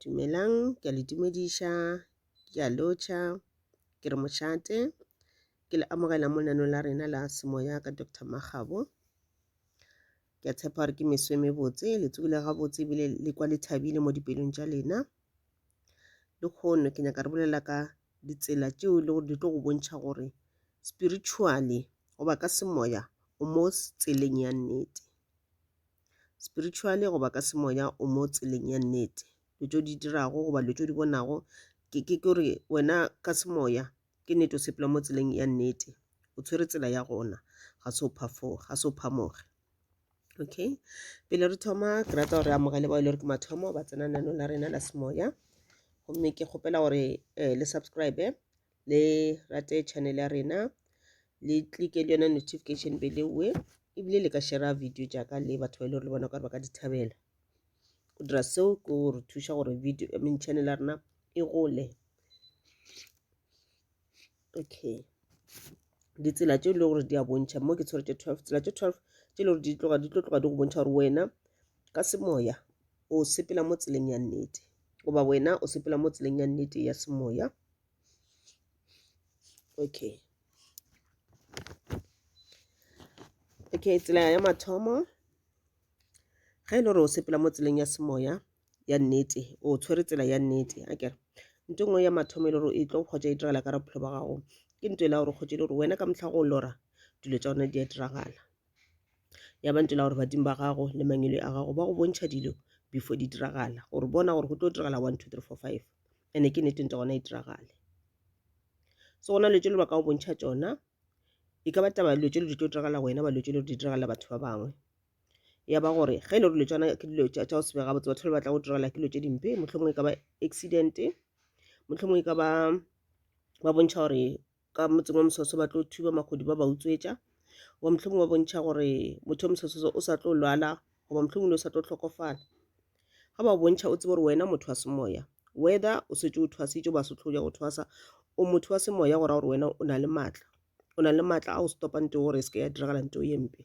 Dumelang, ke a le dumediša, ke a lotšha, ke re mošate. Ke le amogela mo lenaneong la rena la semoya ka Doctor Makgabo. Ke a tshepa gore ke meso e mebotse, le tsogile gabotse ebile le kwa le thabile mo dipelong tša lena. Le kgono ke nyaka re bolela ka ditsela tšeo le gore di tlo go bontšha gore spiritually goba ka semoya o mo tseleng ya nnete. spiritually goba ka semoya o mo tseleng ya nnete dilo tšeo di dirago goba dilo tšeo di bonago ke ke ke gore wena ka semoya ke nnete o sepela mo tseleng ya nnete o tshwere tsela ya gona ga se o phafoge ga se o phamoge okay pele re thoma ke rata gore amogele bao e le gore ke mathomo ba tsena nano la rena la semoya gomme ke kgopela gore um le subscribe le rate channel ya rena le clike le yona notification bell ewe ebile le ka shera video jaaka le batho ba e le gore le bona kare ba ka di thabela go dira seo ke re thuša gore video I mean channel ya rena e gole okay ditsela tše e le gore di a bontšha mo ke tshwere tše twelve tsela tše twelve tše e le gore di tloga di tlo tloga di go bontšha gore wena ka semoya o sepela mo tseleng ya nnete goba wena o sepela mo tseleng ya nnete ya semoya okay okay tsela ya mathomo ga e le gore o sepela mo tseleng ya semoya ya nnete o tshwere tsela ya nnete a kere nto nngwe ya mathomo e le gore e tlo kgotsa e diragala ka bophelo ba gago ke nto e le gore kgotsa e le gore wena ka motlha go lora dilo tsa gona di a diragala ya ba ntela gore badimo ba gago le mangwele a gago ba go bontšha dilo before di diragala gore bona gore go tlo diragala one two three four five ene ke nete nte gona e diragale so gona letselo ba ka go bontšha tsona e ka ba taba dilo tse di tlo diragala wena ba dilo tse di diragala batho ba bangwe ya ba gore ge e le gore dilo tsona ke dilo tsa go se bega botse batho ba batla go diragala ke dilo tse dimpe mohlomongwe e ka ba accident mohlomongwe e ka ba ba bontšha gore ka motseng wa mososo ba tlo thuba makgodi ba ba utswetša goba mohlomong ba bontšha gore motho yo mososo o sa tlo lwala goba mohlomong le o sa tlo tlhokofala ga ba bontšha o tsebe gore wena motho wa semoya whether o setse o thwasitše ba se tloja go thwasa o motho wa semoya go ra gore wena o na le maatla o na le maatla a go stopang teo gore e se ke ya diragala nto ye mpe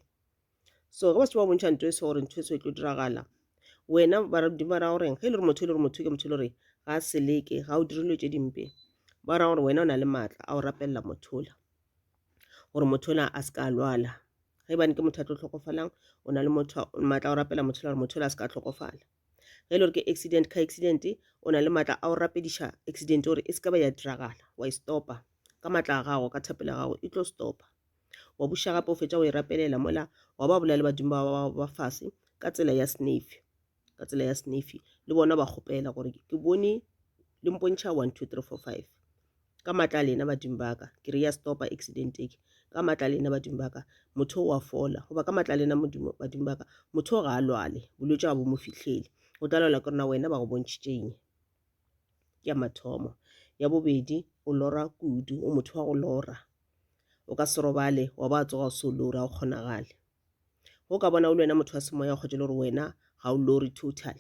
so ge ba se ba bontšha ntho e se gore ntho e se e tlo diragala wena baradimo ba ra gore ge e le gore motho e le gore motho ke motho e le gore ga a seleke ga o dirilwe tse dimpe ba ra gore wena o na le maatla a o rapelela mothola gore mothola a se ka lwala ge e bane ke motho a tlo tlhokofalang o na le maatla a o rapela mothola gore mothola a se ka tlhokofala ge e le gore ke accident ka accident o na le maatla a o rapediša accident gore e se ka ba ya diragala wa e stopa ka matla a gago ka thapelo ya gago e tlo stopa wa buša gape o fetša go e rapelela mola wa ba bolela badimo ba ba ba fase ka tsela ya snefi ka tsela ya snefi le bona ba kgopela gore ke bone le mpontšha one two three four five ka matla a lena badimo ba ka ke re ya stopa accident eke ka matla a lena badimo ba ka motho o a fola goba ka matla a lena modimo badimo ba ka motho o ga a lwale bolwetse ga bo mo fitlhele o tla lwala ke rona wena ba go bontšhitšeng ke ya mathomo ya bobedi o lora kudu o motho wa go lora O ka se robale wa ba tsoga o se o lora go kgonagale. Go ka bona o le wena motho wa semoya o kgotše le gore wena ga o lore total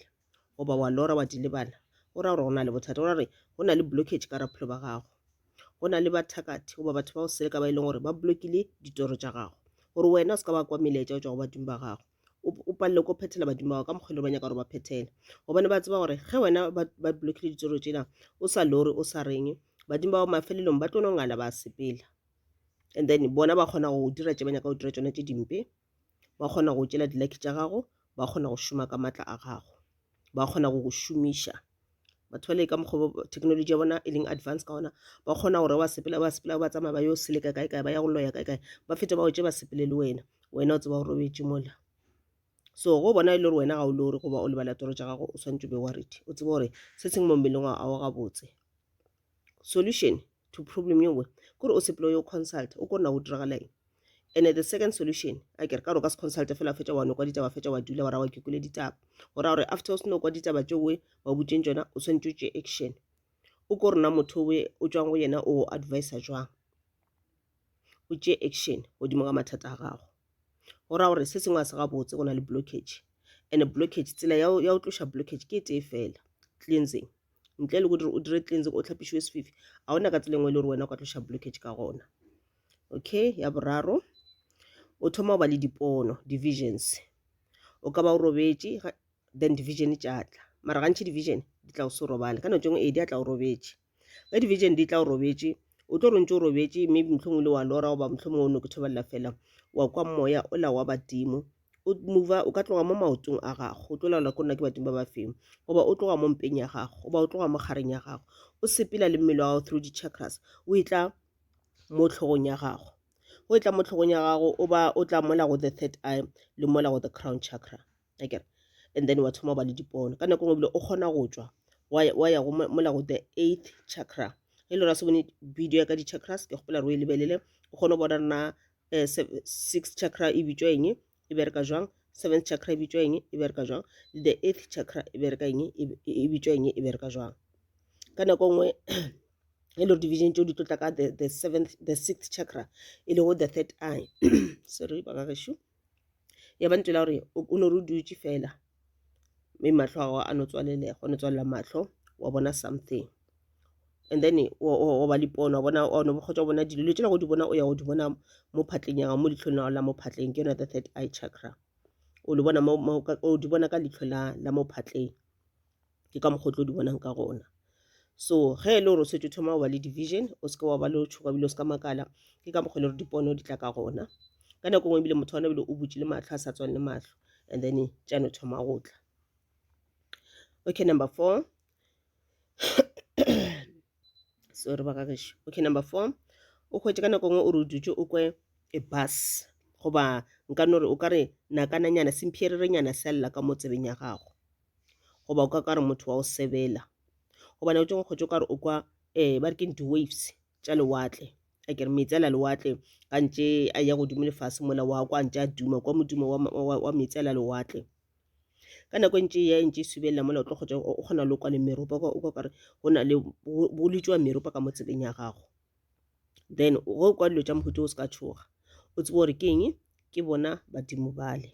goba wa lora wa di lebala o ra gore go na le bothata o ra gore go na le blockage ka raphelo ba gago go na le bathakathi goba batho ba go seleka ba e leng gore ba blokile ditoro tša gago gore wena o se ka ba kwa melaetša o tšwa go badimo ba gago o o palelwe ke go phethela badimo ba gago ka mokgwa le ba nyaka gore ba phethele gobane ba tseba gore ge wena ba ba blockile ditsoro tšela o sa lore o sa reng badimo ba gago mafelelong ba tlo no ngala ba sepela and then bona ba kgona go dira tše ba nyaka go dira tšona tše dimpe ba kgona go tšela di-lucky tša gago ba kgona go šoma ka maatla a gago ba kgona go go šomiša batho ba le ka mokgwa technology ya bona e leng advance ka ona ba kgona gore wa sepela ba sepela ba tsamaya ba yo seleka kae kae ba ya go loya kae kae ba fete ba otše ba sepele le wena wena o tseba gore o betse mola so go bona e le gore wena ga o le gore goba o lebala toro tša gago o swantse o be worried o tsebe gore se seng mo mmeleng wa ao gabotse solution to problem ye nngwe kore o sepele yo consult o kona go diragala eng and the second solution a kere ka gore ka se consult fela fetša wa no kwa ditaba fetša wa dula wa ra wa kekule ditaba go ra gore after o se no kwa ditaba tše we wa butšeng tšona o swantse o tše action o ko rena motho we o tswang go yena o advisa jwang o tše action godimo ga mathata a gago go ra gore se sengwe a se gabotse go na le blockage and blockage tsela ya go tloša blockage ke e tee fela cleansing ntle le kodire o dire cleansing o tlhapišiwe sefifi ga ona ka tsela engwe e le gore wena o ka tloša blockage ka gona okay ya boraro o thoma go ba le dipono divisions o ka ba o robetše then division tša tla mara gantšhi division di tla o se robale ka nako tšengwe e di a tla o robetše Ge dibetšene di tla o robetše, o tlo rontše o robetše, mme mohlomong le wa lora goba mohlomong o no ke thebelela fela wa kwa moya o la wa badimo o mova o ka tloga mo maotong a gago o tlo laola ko nna ke badimo ba ba feng goba o tloga mo mpeng ya gago goba o tloga mo kgareng ya gago o sepela le mmele wa gago through di-chakras o e tla mo tlhogong ya gago o e tla mo tlhogong ya gago o ba o tla mola go the third eye le mola go the crown chakra akere and then wa thoma ba le dipono ka nako ngwe bile o kgona go tšwa wa ya go mola go the eighth chakra e le ra se bone video ya ka di-chakras ke kgopela re o e lebelele o kgone go bona rena um eh, six chakra e bitswa eng e bereka jwang seventh chakra e bitswa eng e bereka jwang le the eighth chakra e bereka eng e, e, e bitswa eng e bereka jwang ka nako nngwe e le division tšeo di tlo tla ka the seventh the sixth chakra e lego the third eye sorry bagagešu ya ba ntela gore o no re o dutše fela mme mahlo a gago a no tswalelega o no tswalela mahlo wa bona something and then wa ba lipono wa bona wa no bokgotsa wa bona dilo dilo tšela go di bona o ya go di bona mo phatleng ya gago mo litlhong la la mo phatleng ke yona the third eye chakra o di bona ka litlho la mo phatleng ke ka mokgwa o tlo di bonang ka gona so ge e le gore o setse o thoma go ba le division o seke wa ba le tšhoka bile o se ka makala ke ka mokgwa e le gore dipono di tla ka gona ka nako ngwe ebile motho wa nabile o butše le matlho a sa tswane le matlho and then tšano thoma go tla okay number four sorry ba gageso okay number four o hwetše ka nako ngwe o re o dutše o kwe e bus goba nka no re o ka re nakananyana semphererenyana selela ka mo tsebeng ya gago goba o ka ka re motho wa go sebela goba nako tše ngwe kgotse o ka re o kwa um ba re ke di-waves tša lewatle a kere meetse ala lewatle ka ntše a ya godimo lefase mola wa kwa ntše a duma kwa modimo wa, wa, wa meetse ala lewatle ka nako e ntše ya e ntše e subelela mola o tlo kgotsa o kgona le kwa le meropa o ka kare go na le bo letšwa meropa ka mo tsebeng ya gago then go kwa dilo tša mohuta o se ka tshoga o tsebe gore ke eng ke bona badimo bale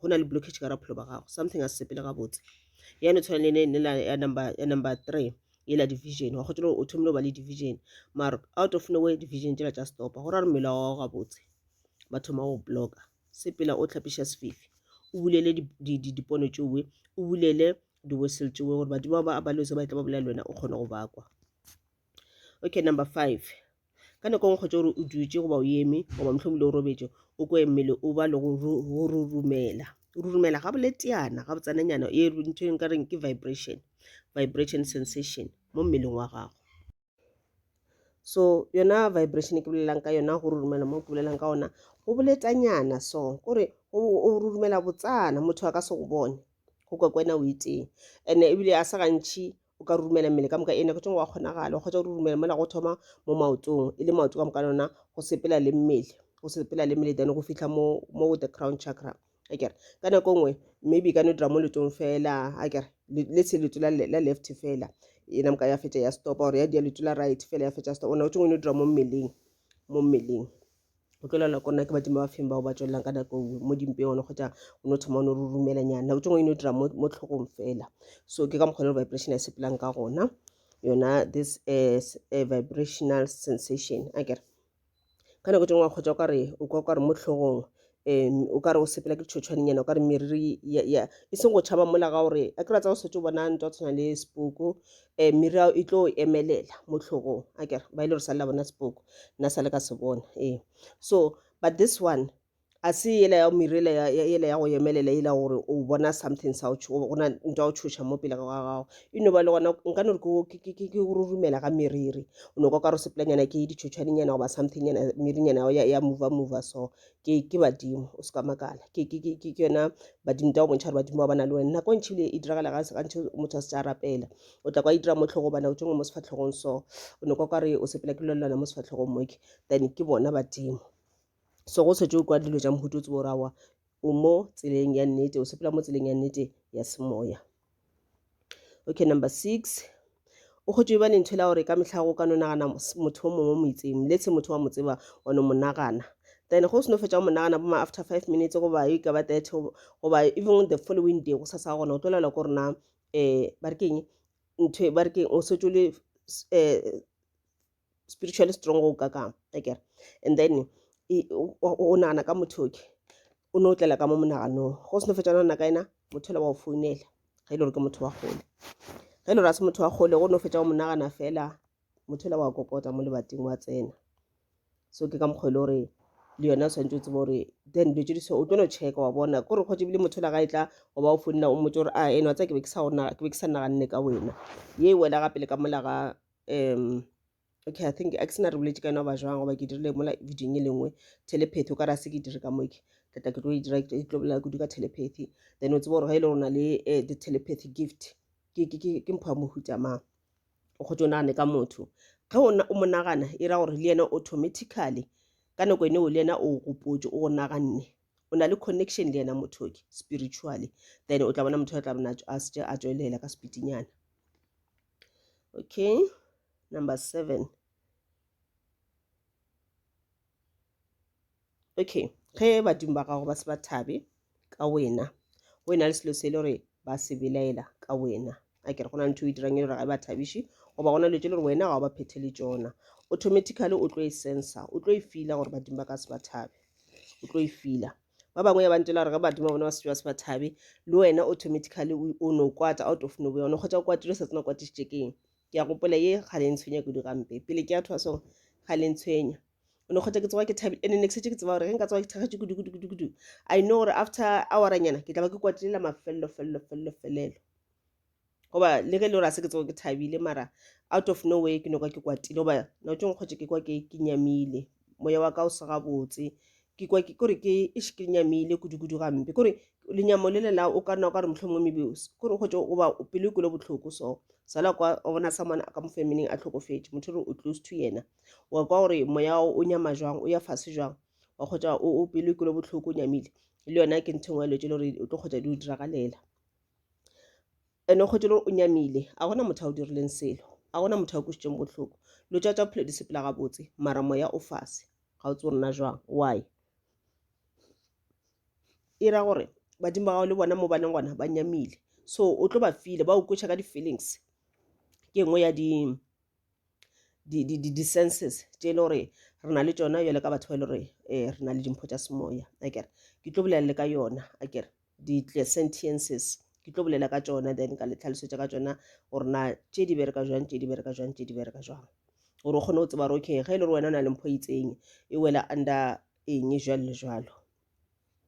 go na le blockage ka ra bophelo ba gago something a se sepele gabotse yane tshwana le ne la ya number ya number 3 e la division wa gotse o thomile ba le division mar out of nowhere division tšela tša stopa go ra re mmele wa gabotse ba thoma go blocka sepela o tlhapiša sefifi o bulele dipono tšowe o bulele diwesel tšowe gore badimo ba ba lose ba tla ba bolela le wena o kgone go bakwa okay number five ka nako ngwe kgotsa gore o dutše goba o eme goba mohlomile o robetše o kwe mmele o ba le go rurumela rurumela ga bole teana ga botsananyana e ntho e nka reng ke vibration vibration sensation mo mmeleng wa gago so yona vibration ke bolelang ka yona go rurumela mo ke bolelang ka ona go boletanyana so kore o rurumela botsana motho a ka se go bone go kwa kwena o iteng and-e ebile a se gantšhi o ka rurumela mmele ka moka ena ke tšong wa kgonagala o kgotsa o rurumela mola go thoma mo maotong e le maoto ka moka lona go sepela le mmele go sepela le mmele dane go fitlha mo mo the crown chakra a kere ka nako nngwe maybe e ka no dira mo letong fela a kere le tshe leto la left fela ena moka ya fetša ya stop or ya dia leto la right fela ya fetša stop ona o tšongwe no dira mo mmeleng mo mmeleng o tlo lala kona ke badimo ba feng bao ba tswelelang ka nako nngwe mo dimpeone kgotsa o no thoma o no re rumelanyana nako tse ngwe e no dira mo tlhogong fela so ke ka mokgwa le vibration ya sepelang ka gona yona this is a vibrational sensation a kere ka nako tse ngwe kgotsa o kare o kwa kare mo tlhogong um o ka re o sepela ke ditšhotšhwanenyana o ka re meriri e seng go tšhaba mola ga gore a kry-a tsa go setse o bona nto tshwana le sepoko um meriri ao e tlo emelela mo tlhogong a kere ba e le gore sa lela bona sepoko nna sa le ka se bona ee so but this one a se yela ya merela yela ya go emelela yela gore o bona something sa gona nto ya go tšhoša mo pele ga gago e no ba le gona nka no re ke go rorumela ga meriri o no ka ka re sepelanyana ke ditšhotšhwanenyana goba somethingnyana merinyana ya mova mova so ke ke badimo o seka makala ke ke ke ke yona badimo tao bontšha gore badimo ba bana le wena nako e ntšhi ebile e diragala ga gantšhi motho a se tsa rapela o tla kwa e dira mo tlhogo bana o tšengwe mo sefatlhogong so o ne kwa ka re o sepela ke lolelwana mo sefatlhogong moke then ke bona badimo so go setse o kwa dilo ja mohuto o tsebo o rawa o mo tseleng ya nnete o sepela mo tseleng ya nnete ya semoya Okay, number six. O kgotše ba lentho la gore ka mehla go ka no nagana motho o mongwe mo itseng. Let's say motho wa mo tseba wa no mo nagana. Then go seno fetša mo nagana bo ma after five minutes goba e ka ba thirty goba even the following day go sa sa gona o tlo laela gore na um ba re keng ntho ba re keng o setse le um spiritually strong go ka kang akere and then o nagana ka motho oke o ne o tlela ka mo monaganong go seno fetsa nagana ka ena motho le wa o founela ga e le gore ke motho wa kgole ga e le gore a se motho wa kgole go ne o fetsa go monagana fela motho le wa kokota mo lebating wa tsena so ke ka mokgwa e le gore le yone o tshwanetse o tsebe gore then dilo tse di so o tlo no checka wa bona ko re kgotse ebile motho la ga e tla o ba o founela o motse gore a eno tsa ke be ke sa naganne ka wena ye e wela gape le ka mola ga um okay i think a ke sena re boletše ka yona ba jwang goba ke dirile mola videong e lengwe telepathy o ka re a se ke dire ka moke ke tla ke tlo e dira ke tlo bolela kudu ka telepathy then o tsebe gore ga e le rona le eh, the telepathy gift ke ke ke ke mpho ya mohuta mang o kgotse o nagane ka motho ge o na- o mo nagana e ra gore le yena automatically ka nako ene o le yena o gopotse o go naganne o na le connection le yena motho ke spiritually then o tla bona motho a tla bona a tswe- a tswelela ka sepitinyana Okay, number seven. Okay, ge badimo ba gago ba se ba thabe ka wena go ena le selo se le gore ba se belaela ka wena a kere go na ntho e dirang e le gore ga e ba thabiše goba gona letse le gore wena ga o ba phethele tsona automatically o tlo e sensa o tlo e fila gore badimo ba ka se ba thabe o tlo e fila ba bangwe ya bantela re ge badimo ba bona ba setswa se ba thabe le wena automatically o no kwata out of nowhere o no kgotsa o kwatile sa tsena kwatišitše keng ke ya gopola ye ga le ntshwenya kudu gampe pele ke ya thoa song ga le ntshwenya o no kgotsa ke tsoga ke thabile ene next ke tseba gore ge nka tsoga ke thakgatše kudu kudu kudu kudu i know gore after awaranyana ke tla ba ke kwatilela mafelelo felelo felelo felelo goba le ge le gore a se ke tsogo ke thabile mara out of no way ke no ka ke kwatile goba nao tšong kgotse ke kwa ke ke nyamile moya wa ka o sega botse ke kwa ke kore ke ish ke nyamile kudu-kudu gampe kore lenyamo le lela o ka nna o ka re motlho mongwe maybe kore kgotse goba pelo e kwele botlhoko so sala kwa o bona someone ka mo familyng a tlhokofetse motho re o close to yena wa kwa gore moya wa o nyama jwang o ya fase jwang wa kgotsa o pelo e kwele botlhoko o nyamile le yona ke nthong wa letse le gore o tlo kgotsa di o diragalela And-e o kgwetše le gore o nyamile, a gona motho a go dirileng selo, a gona motho a go kwešitšeng bohloko. Lo tšwatša bophelo di sepela gabotse, mara moya o fase. Ga o tsebe gore na jwang, why? E ra gore badimo ba gago le bona mo ba leng gona ba nyamile, so o tlo ba feel-a, ba go kweša ka di-feelings. Ke e nngwe ya di di-senses tše e le gore re na le tšona bjalo ka batho ba e le gore um re na le dimpho tša semoya akere. Ke tlo bolela le ka yona akere. di sentiences ke tlo bolela ka tšona then ka le tlhalosetša ka tšona gore na tše di bereka jwang tše di bereka jwang tše di bereka jwang gore o kgone go tseba gore okay ge e le gore wena o na le mpho e itseng e wela under eng jwalo le jwalo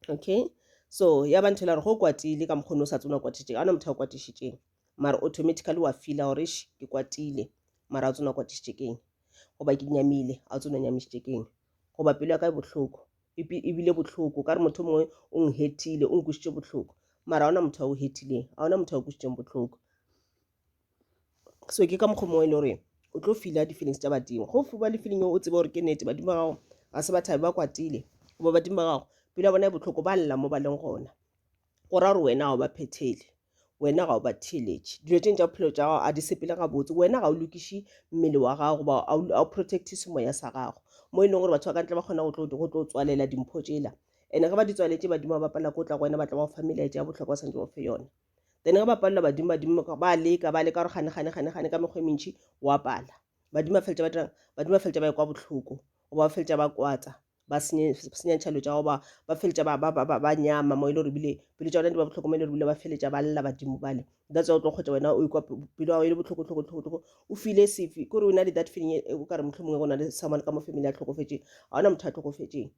okay so ya ba ntho e la gore go kwatile ka mokgone o sa tsona kwatišitše ga ona motho a kwatišitšeng mara automatically wa feela gore š ke kwatile mara a tsona kwatišitše keng goba ke nyamile a tsona nyamišitše keng goba pelo ya ka e bohloko E be e bile bohloko, ka re motho mongwe o nghethile, o nkwišitše bohloko. Mara ga ona motho a o hethileng, ga ona motho a o kwišitšeng bohloko. So ke ka mokgwa mongwe e le gore o tlo fila di-feelings tša badimo. Go fiwa le feeling eo o tsebe gore ke nnete badimo ba gago ga se ba thabe, ba kwatile goba badimo ba gago pelo ya bona e bohloko, ba lla mo ba leng gona. go ra gore wena ga o ba phethele wena ga o ba theeletše dilo tšeng tša bophelo tša gago a di sepele gabotse wena ga o lokiše mmele wa gago goba a o protect semoya sa gago mo e leng gore batho ba ka ntle ba kgona go tlo tswalela dimpho tsela and ge ba di tswaletse badimo ba bapala ko tla go wena ba tla ba go fa melaetša ya bohlokwa ba santse ba fe yone then ge ba palela badimo badimo ba leka ba leka gore gane gane gane gane ka mekgwa e mentšhi wa pala badimo ba feletša ba dirang badimo ba feletša ba e kwa bohloko goba ba feletša ba kwatsa ba senye senya tšhalo tša goba ba feletša ba, ba, ba, ba, ba nyama mo e le gore bile pelo tša bona di ba bohloko mo e le gore bile ba feletša ba lla badimo bale that's why o tlo kgwetša wena o ikwa pelo ya go e le bohloko tlhoko tlhoko tlhoko o file sefe kore o na le that feeling e- o ka re motlho mongwe go na le someone ka mo family a tlhokofetšeng ga ona motho a tlhokofetšeng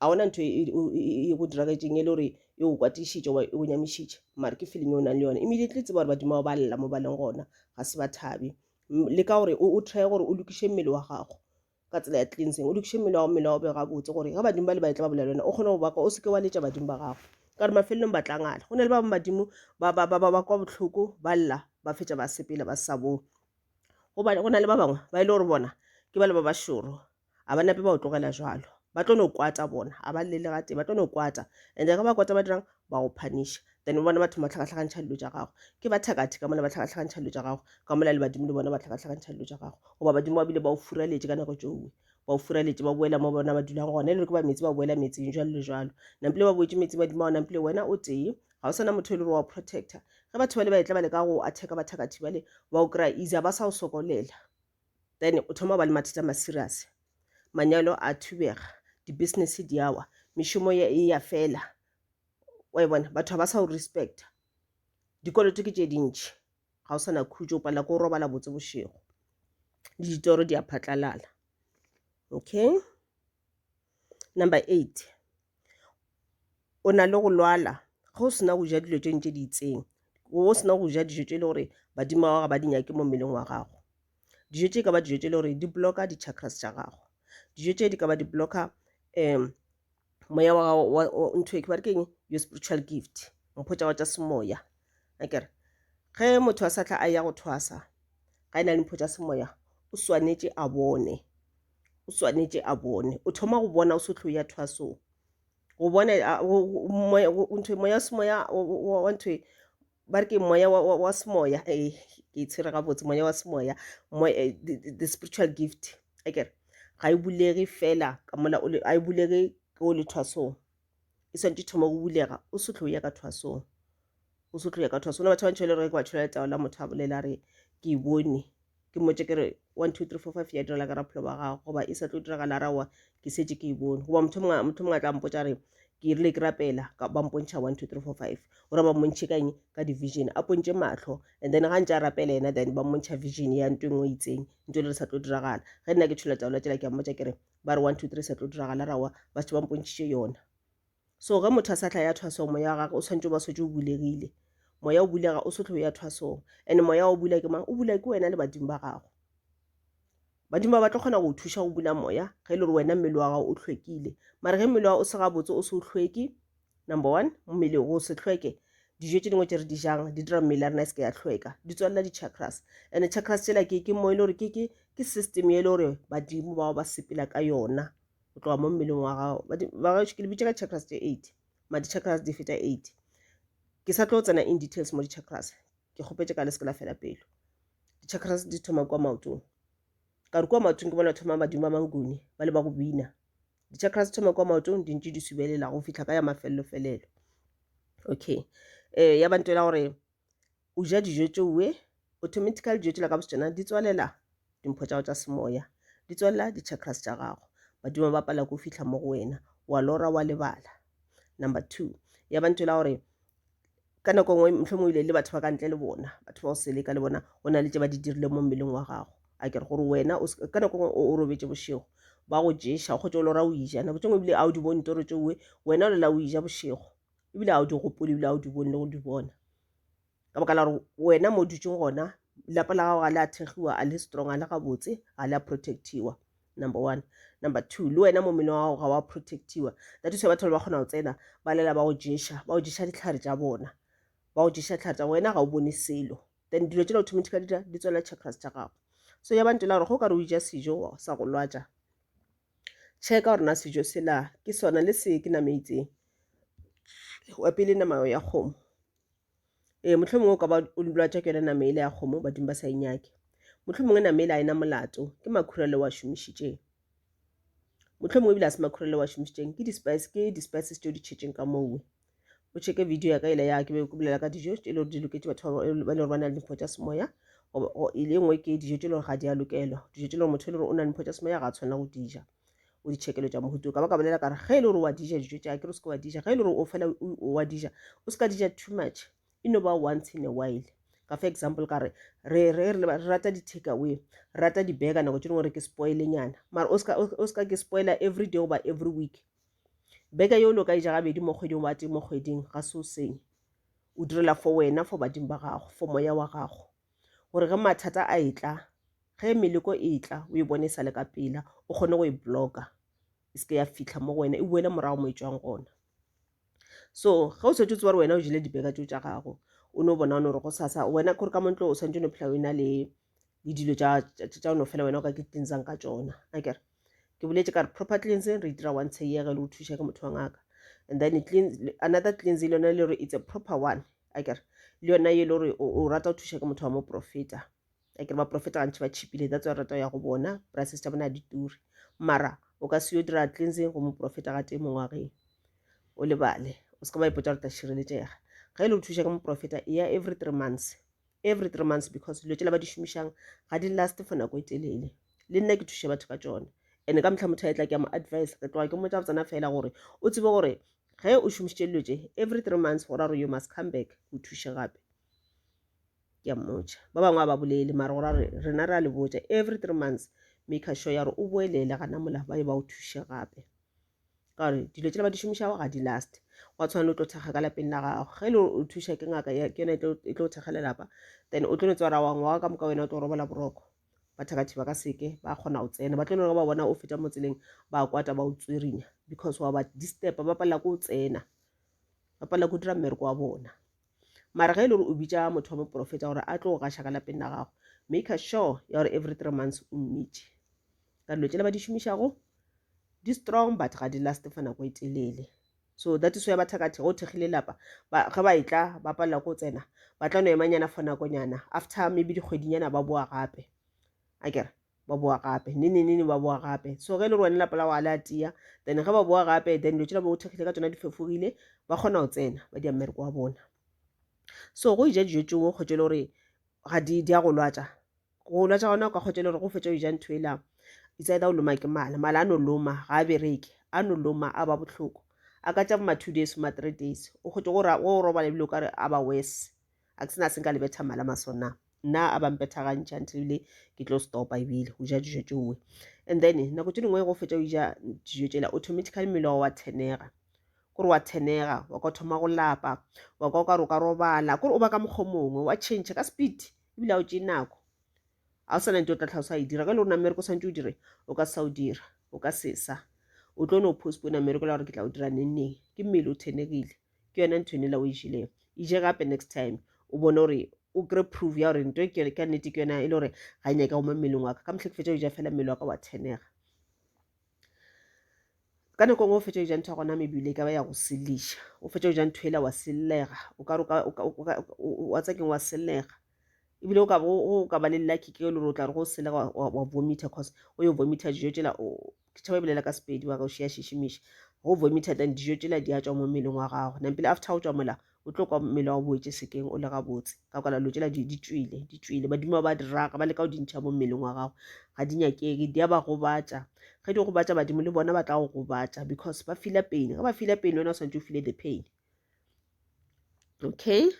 ga ona ntho e- e- o- e e go diragetseng e le gore e go kwatišitše goba e go nyamišitše mare ke feeling e o nang le yona immediately tseba gore badimo bao ba lla mo ba leng gona ga se ba thabe M- le ka gore o o try gore o lokiše mmele wa gago ka tsela ya cleansing o lokiše mmele wa go mmele wa go be gabotse gore ga badimo ba le baetla ba bolela wena o kgone go baka o seke wa letša badimo ba gago ka re mafelelong ba tlangala go na le ba bangwe badimo ba kwa botlhoko ba lla ba fetša ba sepela ba sa bone gobane go na le ba bangwe ba e le gore bona ke ba le ba ba šoro a ba nape ba o tlogela jalo ba tlo no kwata bona a ba llele ga tee ba tlo no kwata and ga ba kwata ba dirang ba go phaniša then o bona batho ba tlhakatlhakantšha dilo tša gago ke ba thakathe ka mona ba tlhakatlhakantšha dilo tša gago ka mola le badimo le bona ba tlhakatlhakantšha dilo tša gago goba badimo ba bile ba o furaletše ka nako tšoe ba o furaletše ba boela mo bona ba dulang gona e le gore ke ba meetse ba boela meetseng jalo le jalo nampile ba boetse meetseng badimo ba nampile wena o tee ga o sana motho e le gore wa o protector ge batho ba le ba etla ba le ka go attack bathakathi bale ba o kry-a easy ba sa o sokolela then o thoma ba le mathata ma serious manyalo a thubega di-business di awa mešomo e ya fela wa e bona batho ga ba sa o respecta dikoloto ke tše dintšhi ga o sa na khutšo o palela ko o robala botse bošego le ditoro di a phatlalala okay number eight o na le go lwala ga o sena go ja dilo tše ntše di itseng o sena go ja dijo tše e le gore badimo wa gago ba di nyake mo mmeleng wa gago dijo tše e ka ba dijo tše e le gore di blocka di-chakras tša gago dijo tše di ka ba di blocka um moya wa gago wa o- ntho e ke ba re ke eng your spiritual gift mpho tša gago tša semoya a kere ge motho a sa tla a ya go thwasa ga e na le mpho tša semoya o swanetše a bone o swanetše a bone o thoma go bona o se tlo ya thwasong go bona a- go- go- moya- go- ntho moya wa semoya wa- wa wa ntho e, ba re ke moya wa, wa, wa semoya eh, ke tshwere gabotse moya wa semoya moya, eh, the, the, the spiritual gift a kere ga e bulege fela ka mola o le- a e bulege ke o le thwasong e swantse thoma go bulega o se tlo ya ka thwasong o se tlo ya ka thwasong na batho ba ntšhele re ke ba tšholela tao la motho a bolela a re ke e bone ke mmotse ke re one two three four five ya direla ka raphelo ba gago goba e sa tlo diragala ra wa ke setse ke e bone goba motho mongwe a tla mpotsa re ke rile ke rapela ba mpontšha one two three four five gore ba mmontšhe kang ka division a pontše matlho and then ga ntse a rapela ena then ba mmontšha vision ya nto engwe itseng nto le re sa tlo diragala ge nna ke tshola taola tsela ke a mmotsa ke re ba re one two three sa tlo diragala ra wa ba se ba mpontšhitše yona So ge motho a sa tla ya thwasong, moya wa gage o swanetše o ba swetše o bulegile. Moya o bulega, o sotlhe o ya thwasong. And moya wa o bula ke mang? O bula ke wena le badimo ba gago. Badimo ba ba tlo kgona go thuša go bula moya ge e le gore wena mmele wa gago o hlwekile. Mara ge mmele wa o se gabotse o se o hlweke, number one, mmele go se hlweke dijo tše dingwe tše re di jang di dira mmele ya rena e seke ya hlweka di tswalela di-chakras and chakras tsela ke ke mo e le gore ke system e le gore badimo bao ba sepela ka yona go tloga mo mmeleng wa gago ba gaešo ke le bitša ka chakras tše eight ma di-chakras di feta eight ke sa tlo tsena in details mo di-chakras ke kgopetše ka le seke la fela pelo di-chakras di thoma kwa maotong ka re kwa maotong ke bona thoma badimo ba mangone ba le ba go bina di-chakras di thoma kwa maotong di ntše di subelela go fitlha ka ya mafelelo felelo okay um ya bantela gore o ja dijo tšoe, automatically dijo tšela ka botšona di tswalela dimpho tša gago tša semoya, di tswalela di-chakras tša gago. Badimo ba pala ke go fihla mo go wena, wa lora wa lebala. Number two, ya ba ntho e la gore ka nako nngwe mohlomong o ile le batho ba ka ntle le bona, batho ba o seleka le bona, go na le tše ba di dirile mo mmeleng wa gago. A kere gore wena ka nako nngwe o robetše bošego, ba go ješa o kgotše o lora o ija, nako tše nngwe ebile a o di bone toro tšoe, wena o lela o ija bošego, ebile ga o di gopole ebile ga o di bone le go di bona ka baka la gore wena mo dutšeng gona lapa la gago ga le a thegiwa a le strong a le gabotse ga le a protectiwa number one number two le wena mo mmele wa gago ga wa protectiwa that is batho ba ba kgona go tsena ba lela ba go ješa ba go ješa ditlhare tša bona ba go ješa ditlhare tsa wena ga o bone selo then dilo tse automatic di tswela chakras tša gago so ya bantela gore go ka re o ja sejo sa go lwatša Tjhe, ka gore na sejo sela ke sona le se ke nama e itseng wa pele nama ya kgomo ee motlho mongwe o ka ba o lwatša ke yone nama ele ya kgomo badimo ba sa e nyake motlho mongwe nama ele a ena molato ke makhura le wa šomišitšeng motlho mongwe ebile a se makhura le wa šomišitšeng ke di-spice ke di-spices tšeo di tšhetšeng ka mowe o cheke video ya ka ele ya ke be ke bolela ka dijo tše e le gore di loketše batho ba e le gore ba na le dimpho tša semoya e le nngwe ke dijo tše e le gore ga di a lokelwa dijo tše e le gore motho e le gore o na le dimpho tša semoya ga a tshwanela go dija o ditšhekelo tša mohuto ka ba ka bolela kare ge e le gore wa dija dijo tša ke re o seke wa dija ge e le gore o fela wa dija o seka dija too much e no ba once in a while ka fa example ka re re re re rata di-take away re rata di-burger nako tše dingwe re ke spoilenyana mara o seka ke spoiler every day goba every week beke yolo ka e ja gabedi mo kgweding wa tee mo kgweding ga se o senye o direla for wena for badimo ba gago for moya wa gago gore ge mathata a e tla ge meleko e tla o e bone e sale ka pela o kgone go e blocka e seke ya fitlha mo go wena e boele morago mo e tswang gona so ge o setse o tse gore wena o jele dibeka tso tsa gago o ne o bona gore go sasa wena kore ka montlo o santse o ne phela o e na le le dilo tsa o no fela wena o ka ke tlinsang ka tsona a kere ke boletse ka re proper cleansing re itira one tsheyege le go thuša ke motho wa ngaka and then another cleansing le yone le gore it's a proper one a kere le yona e le gore o rata go thuša ke motho wa moprofeta a kere baprofeta gantši ba chipile that's why rata go ya go bona prices tša bona di ture mara o ka se yo dira cleansing go moprofeta ga tee mongwageng o lebale o se ka ba ipotsa gore tla šireletšega ge e le go thuša ke moprofeta e ya every three months every three months because dilo tšela ba di šomišang ga di last for nako e telele le nna ke thuše batho ka tsone and ka motlha motho a etla ke ya mo advice re tloga ke motsa botsana fela gore o tsebe gore ge o šomišitše dilo tše every three months go ra gore you must come back o thuše gape ke a mmotša ba bangwe a ba bolele mare gore re rena re a le botša every three months make sure ya gore o boelele gana mola ba ye ba o thuše gape ka gore dilo tšela ba di šomišago ga di last gwa tshwana le o tlo thekga ka lapeng la gago ge le o thuša ke ngaka ke yone e tlo thekga lelapa then o tlo letswara wa ngwaga ka moka wena o tlo robola boroko bathakathi ba ka seke ba kgona go tsena ba tlo lego ba bona o feta mo tseleng ba kwata ba o tswerinya because wa ba disturba ba palela ko o tsena ba palela ko dira mmereko wa bona mara ge e le gore o bitša motho wa boporofeta gore a tlo go gaša ka lapeng la gago make a sure ya gore every three months o mmitše ka dilo tšela ba di šomišago di strong but ga di last fa nako e telele so that is why ba thakathe go thekgile lapa ge ba etla ba palela ko tsena ba tla no emanyana for nakonyana after maybe dikgwedinyana ba boa gape a kere ba boa gape nenenene ba boa gape so ge e le gore wena lapa la go a le a tia then ge ba boa gape then dilo tšela ba o thekgile ka tsona di fefogile ba kgona go tsena ba dia mmereko wa bona so go ija dijo tšeo kgotse e le gore ga di di a go lwatsa go lwatsa gona o ka kgotse e le gore go fetsa o ija ntho ela itse either o loma ke mala mala a no loma ga a bereke a no loma a ba botlhoko a ka tša boma two days boma three days o kgotse go robala ebile o ka re a ba worse a ke sena se nka le betha mala maso na nna a ba mpethagantšha ntle ebile ke tlo stopa ebile go ja dijo tšeoe and then nako tše dingwe go fetša o ja dijo tšela automatically mmele wa wa thenega kore wa thenega wa ka thoma go lapa wa ka o ka re o ka robala kore o ba ka mokgwa mongwe wa change ka speed ebile a o tšee nako a o sana nte o tla tlhalosa e dira ge le gore namereko swantse o dire o ka sa o dira o ka sesa o tlo no postpone namereko la gore ke tla o dira nenneng ke mmele o thenegile ke yona ntho ene la o išileng e je gape next time o bone gore o kry proof ya gore nto e ka nnete ke yona e le gore ga e nyaka goma mmeleng wa ka ka motlha ke fetsa o ja fela mmele wa ka wa thenega ka nako ngwe o fetsa o ja ntho ya gona mebile e ka ba ya go seleša o fetsa o ja ntho ela wa sellega o ka wa tsakeng wa sellega ebile o ka ba le lucky ke le gore o tla re go sellega wa vomitha cause o yo vomitha dijo tsela ke tšhaba ebelela ka sepedi wa ka o šea šešimiši go vomita then dijo tšela di a tšwa mo mmeleng wa gago nampile after o tšwa mola o tlo kwa mmele wa boetse sekeng o le gabotse ka kwala lo tšela di tšwile di tšwile badimo ba diraga ba leka go di ntšha mo mmeleng wa gago ga di nyakeke di a ba gobatša ge di gobatša badimo le bona ba tla go gobatša because ba fila pain ge ba fila pain wena o swantse o file the pain okay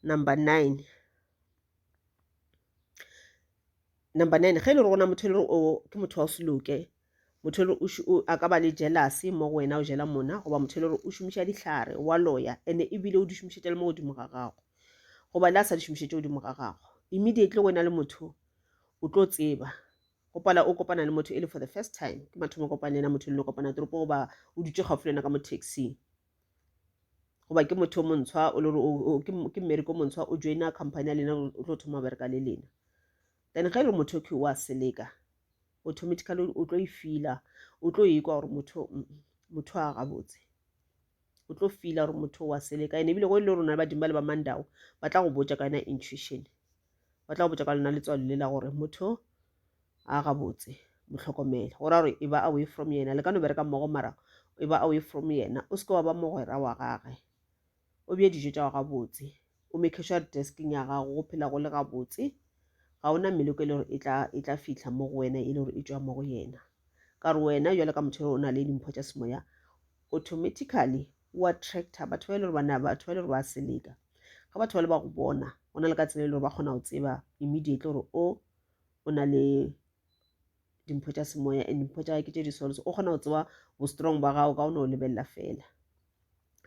number nine number nine ge e le gore gona motho e le gore o ke motho wa o seloke motho e le gore a ka ba le jelase mo go wena o jela mona goba motho e le gore o šomiša dihlare wa loya ande ebile o di šomišetša le mo godimo ga gago goba le a sa di šomišetše godimo ga gago immediately wena le motho o tlo tseba go pala o kopana le motho e le for the first time ke mathomo kopane yena motho e le kopana toropo goba o dutše gaufi le yena ka mo taxing goba ke motho o montshwa o le gore ke mmereko montshwa o joina company ya lena o tlo thoma bereka le lena then ge e le motho ke wa seleka automatically o tlo e fila o tlo ekwa gore motho motho a gabotse o tlo fila gore motho wa seleka ene ebile go e le rona badimo ba le ba mandao ba tla go botja ka yona intuition ba tla go botša ka lona letswalo le la gore motho a gabotse motlhokomele go ra gore e ba away from yena le ka no bereka mmogo mara e ba away from yena o seke wa ba mogwera wa gage o bje dijo tša go gabotse o make sure re desking ya gago go phela go le gabotse ga ona meloko e le gore e tla e fitlha mo go wena e le gore e tšwa mo go yena ka gore wena jalo ka motho o na le dimpho tša semoya automatically o attractor batho ba e le gore bana batho ba e le gore ba seleka ga batho ba le ba go bona go na le ka tsela e le gore ba kgona go tseba immediately gore o o na le dimpho tša semoya and dimpho tša ke tše di sols o kgona go tseba bo strong ba gago ka o ne o lebelela fela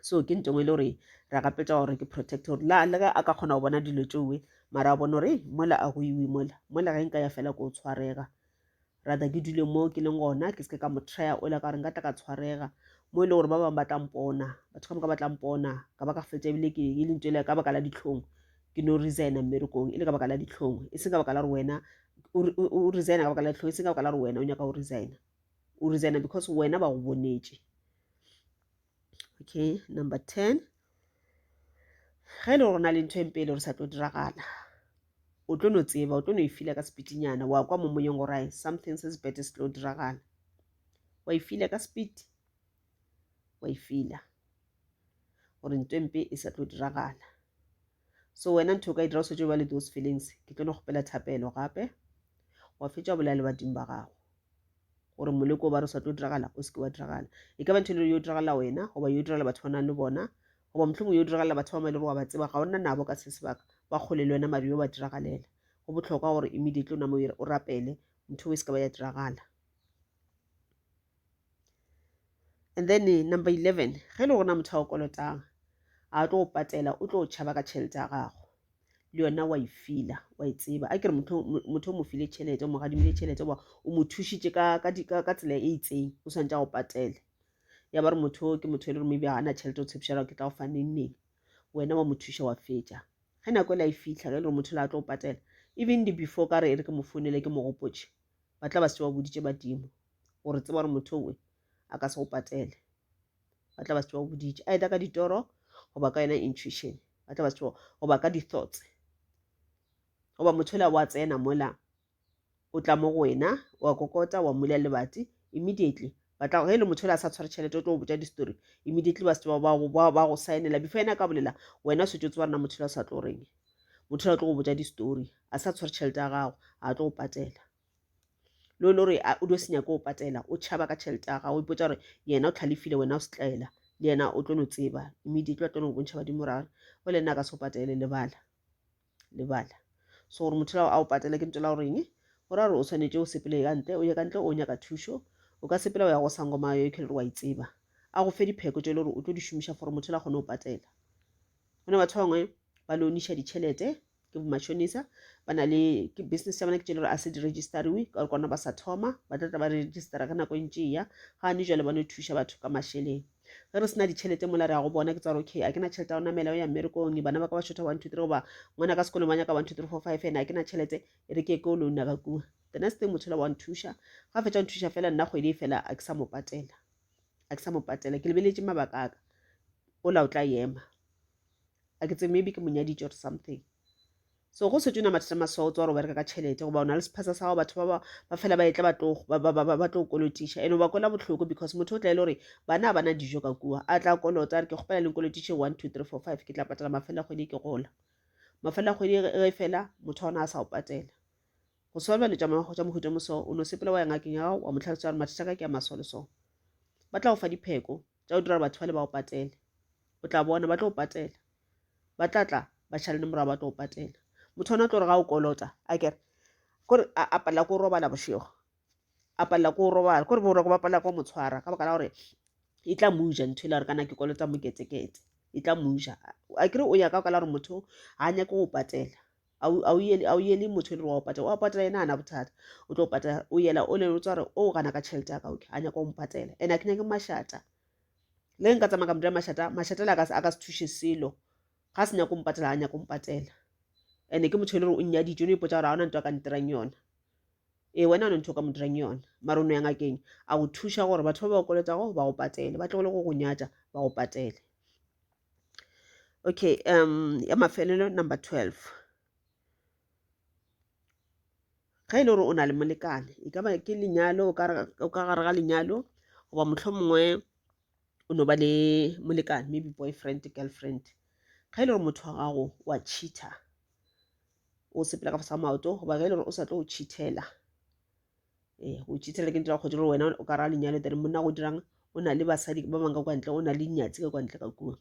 so ke ntho engwe e le gore re gapetša gore ke protect gore la le ge a ka kgona go bona dilo tšeoe mara a bone gore mola a go iwe mola mola ge nka ya fela ko o tshwarega rata ke dule mo ke leng gona ke seke ka mo trea o ile ka gore nka tla ka tshwarega mo e le gore ba bangwe ba tla mpona batho ka moka ba tla mpona ka ba ka fetsa ebile ke e lentso ele ka baka la ditlhong ke no resigna mmerekong e le ka baka la ditlhong e seng ka baka la gore wena o resigna ka baka la ditlhong e seng ka baka la gore wena o nyaka go resigna o resigna because wena ba go bonetše okay number ten ge e le gore na le ntho e mpe e le gore sa tlo diragala o tlo no tseba o tlo no e fila ka sepitinyana wa kwa mo moyeng gore ai something se sebete se tlo diragala wa e fila ka sepiti wa e fila gore ntho e mpe e sa tlo diragala so wena ntho o ka e dira o setse ba le those feelings ke tlo no kgopela thapelo gape wa fetša bolaya le badimo ba gago gore moleko ba re sa tlo diragala o seke wa diragala e ka ba ntho e le yo diragala wena goba yo diragala batho ba nang le bona goba mohlomong yo diragala batho ba ma e le gore wa ba tseba ga o nna nabo ka se sebaka ba kgole le wena mari yo ba diragalela go botlhokwa gore immediately o namo o rapele ntho e se ka ba ya diragala And then eh, number 11, ge le gona motho a o kolotang, a tlo go patela, o tlo tšhaba ka tšhelete ya gago. Le yona wa e fila, wa e tseba. A kere motho motho o mo file tšhelete, o mo gadimile tšhelete, wa o mo thušitše ka ka di- ka ka tsela e itseng, o swantše a go patele. Ya ba re motho o ke motho e le gore maybe ga a na tšhelete, o tshepiša gore ke tla go fa neng neng. Wena wa mo thuša wa fetša. Ge nako e la e fitlha, ge e le gore motho la a tlo go patela, even the before ka re e re ke mo founele ke mo gopotše, ba tla ba se wa boditše badimo. gore tseba gore motho owe a ka se go patele ba tla ba se go boditše a eta ka ditoro goba ka yona intuition ba tla ba se goba ka di-thoughts goba motho ola wa tsena mola o tla mo go wena wa kokota wa mola lebati immediately ba tla ge e le motho ola a sa tshware tšhelete o tlo go botša di-story immediately ba se ba go saenela before ena ka bolela wena o setse o tseba rena motho ola o sa tlo reng motho ola o tlo go botša di-story a sa tshware tšhelete ya gago a tlo go patela lo lo re o dio se nyake o patela o tšhaba ka tšhelete ya gago o ipotsa gore yena o tlhalefile wena o setlaela le yena o tlo no tseba immediately ba tlo no bontšha badimo ragare o le nna ka se o patele lebala lebala so gore motho lao a o patele ke ntse la goreng go ra gore o tshwanetse o sepele ka ntle o ye ka ntle o nyaka thušo o ka sepela o ya go sangoma yo ke le gore wa itseba a go fe dipheko tse e le gore o tlo di šomiša for motho la kgone go patela go ne batho ba bangwe ba loniša ditšhelete ke bomatšhonisa ba na le ke business ya bona ke tšele gore a se di registerewe ka gore kwana ba sa thoma ba tlatla ba registera ge nako e ntše ya ga ne jale bone thuša batho ka mašeleng ge re sena ditšhelete mola re ya go bona ke tsa gore okay a ke na tšhelete ya go namela o ya mmerekong bana ba ka ba shotha one two three goba ngwana ka sekolong ba nyaka one two three four five ene a ke na tšhelete e re ke ko o louna ka kua the next thing motho la wa nthuša ga fetša nthuša fela nna kgwedi e fela a ke sa mo patela a ke sa mo patela ke lebeletše mabaka aka o la o tla ema a ke tse maybe ke monyaditše or something so go setswe na mathata maswa o tswa gore o bereka ka tšhelete goba o na le sephasa sa gago batho ba ba fela ba etla ba tlo kolotiša and ba kwela bohloko because motho o tla e le gore bana ba na dijo ka kua a tla kolota re ke kgopela le nkolotiše one two three four five ke tla patela mafela kgwedi ke gola mafela kgwedi ge fela motho ona a sa o patela go solva le tša mohuta moso o no sepela wa ya ngakeng ya gago wa mo tlhalosa gore mathata ka ke a maswa le so ba tla go fa dipheko tša go dira gore batho ba le ba go patele o tla bona ba tlo go patela ba tla tla ba šale le morago ba tlo go patela motho ona o tlo re ga o kolota a kere kore a palela ko robala bošego a palela ko robala kore boroko ba palela ko motshwara ka baka la gore e tla muja ntho e le gore kana ke kolota moketekete e tla muja a kere o ya ka baka la gore motho ga a nyake go patela a o yele a o yele motho le wa o patela wa patela yena ana bothata o tlo patela o yela o leng o tswa re o gana ka tšhelete ya ka okay a nyaka o mpatela ene a ke nyake mashata le nka tsamaya ka motho ya mashata mashata le a ka se thushe selo ga se nyako mpatela a nyako mpatela ene ke motho e le gore o nnya dijo ne ipotsa gore ga ona ntho a ka ntirang yona ee wena o ne ntho o ka mo dirang yona mare o no yang akeng a go thuša gore batho ba ba o koletago ba go patele ba tlogole go go nyatša ba go patele okay um ya mafelelo number 12 ge e le gore o na le molekane e ka ba ke lenyalo o ka gare ga lenyalo goba motlho mongwe o no ba le molekane maybe boyfriend girlfriend ge e le gore motho wa gago wa cheater o sepela ka fasa maoto goba ge e le gore o sa tlo o cheatela ee eh, o tšhithela ke ntla kgodi gore wena o ka ra lenyalo tere monna go dirang o na le basadi ba bangwe ka kwa ntle o na le nyatsi ka kwa ntle ka kua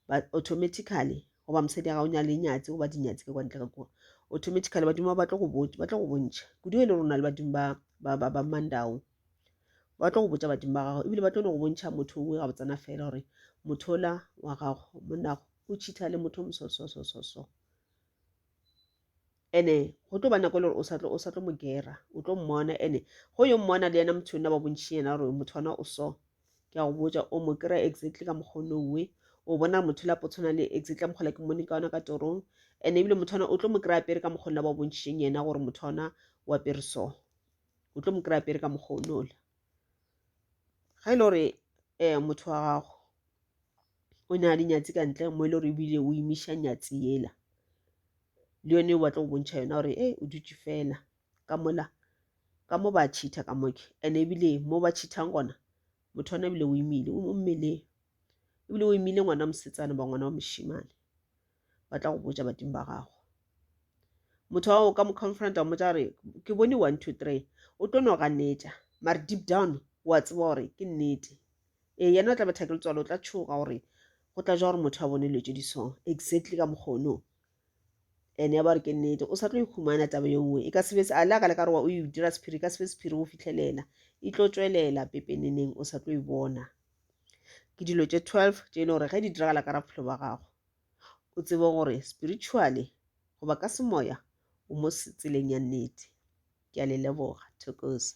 but automatically goba mosadi ya ga o nya le nyatsi goba dinyatsi ka kwa ntle ka kua automatically badimo ba batla go botša batla go bontšha kudu e le rona le badimo ba ba ba ba mandao ba tlo go botša badimo ba gago ebile ba tlo no go bontšha motho o ga botsana fela gore motho ola wa gago monago o cheatha le motho mosososososo ene go tlo ba nako e le gore o sa tlo o sa tlo mo gera o tlo mmona ene go yo mmona le yena motho yona ba bontšhi yena gore motho ona o so ke a go botsa o mo kry exactly ka mokgwa one owe o bona gore motho lapo tshwana le exactly ka mokgola ke mmone ka ona ka torong and ebile motho ona o tlo mo kry apere ka mokgwa la ba bontšheng yena gore motho ona o apere so o tlo mo kry apere ka mokgwa one ola ga e le gore um motho wa gago o ne a le nyatsi ka ntle mo e le gore ebile o imiša nyatsi yela le yone o batla go bontšha yona gore e o dutše fela ka mola ka mo ba cheatha ka moke and ebile mo ba cheathang gona motho ona ebile o imile o mmeleng ebile o imile ngwana mosetsana ba ngwana wa mošimane ba tla go botša badimo ba gago motho wa go ka mo confronta mo tla re ke bone one two three o tlo no ganetša mare deep down wa tseba gore ke nnete ee yena o tla betha ke letswalo o tla tšhoga gore go tla ja gore motho a bone dilo tse di so exactly ka mokgono ene ya ba re ke nnete o sa tlo ikhumana taba ye nngwe e ka sebe a le a ka le ka re wa o e dira sephiri e ka sebe sephiri go fitlhelela e tlo tswelela pepeneneng o sa tlo e bona ke dilo tše 12 tše e le gore ge di diragala ka ra bophelo ba gago o tsebe gore spiritually goba ka semoya o mo tseleng ya nnete ke a le leboga thokoza